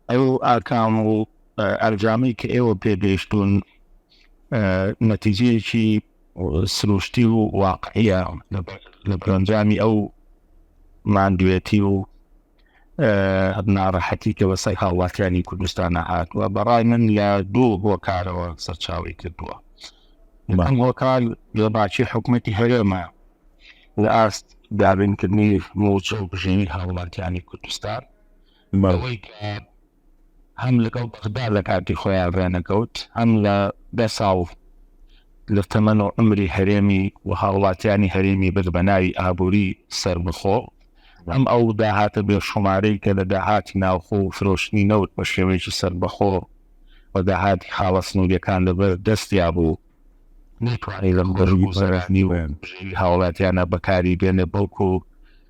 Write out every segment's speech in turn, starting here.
ئەو ئاکام و ئەنجامەی کە ئێوە پێگەیشتون نەتیجەیەکی سروشتی و واقعە لە بەرەنجامی ئەو ماندوێتی و ناڕەحەتی کە بەسەر هاوڵاتیانی کوردستانە هاتووە بەڕای من لە دوو هۆکارەوە سەرچاوی کردووە بەم هۆکار لەباچی حکوومەتی هەرێمە لە ئاست دابینکردنی موچە و بژێنی هاوڵاتیانی کوردستان بەوەی کە هەم لەگەڵ بەغدا لە کاتی خۆیان ڕێنەکەوت هەم لە بێ ساڵ لە تەمەن و ئەمری هەرێمی و هاوڵاتیانی هەرێمی برد بە ناوی ئابووری سربخۆ ئەم ئەو داهاتە بێ شومارەی کە لە داهاتی ناوخۆ و فرۆشتنی نەوت بە شێوەیەکی سربەخۆ و داهاتی خاڵە سنووریەکان لەبەر دەستیا بوو نەتوانانی لەم گەژگوزەرانی و هاوڵاتیانە بەکاری بێنێ بەڵکو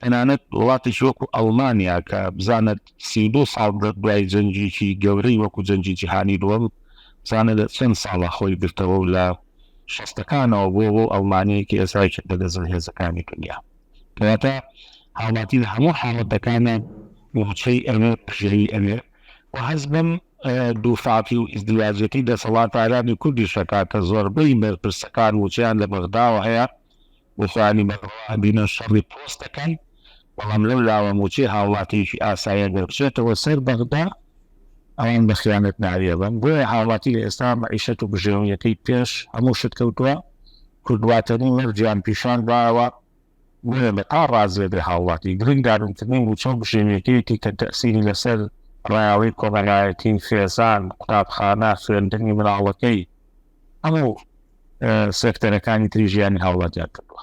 تەنانەت وڵاتێکی وەکو ئەڵمانیا کە بزانت سی و دوو ساڵ دوای جەنگیکی گەورەی وەکو جەنگی جیهانی دووەم بزانە لە چەند ساڵە خۆی گرتەوە و لە شەستەکانەوە بۆ بۆ ئەڵمانیەکی ئێسای کردە لە زل هێزەکانی دنیا کەواتە هاوڵاتی لە هەموو حاڵەتەکانە موچەی ئەوێ پژێوی ئەوێ و هەز بم دووفاتی و ئیزدیواجەتی دەسەڵاتارانی کوردی شەکاتە زۆربەی بەرپرسەکان وچیان لە بەغداوە هەیە بۆخۆ عەلی بەڕەوا بینە شەڕی پۆست دەکەن، بەڵام لەو لاوە موچەی هاوڵاتیەکی ئاسایە دەربچێتەوە سەر بەغدا، ئەوان بە خیانەت ناوی ئەبەن، بۆیە هاوڵاتی لە ئێستا مەعیشەت و بژێویەکەی پێش هەموو شت کەوتوە، کورد واتەنی مەرجیان پیشان داوە، بۆیە بە تا ڕازێ بێ هاوڵاتی گرنگ دارن کردنی موچە و بژێویەکەیەتی کە تەئسیری لە سەر ڕایەڵی کۆمەلایەتی، خێزان، قوتابخانە، خوێندنی مناڵەکەی، ئەمە سێکتەرەکانی تری ژیانی هاوڵاتیان کردووە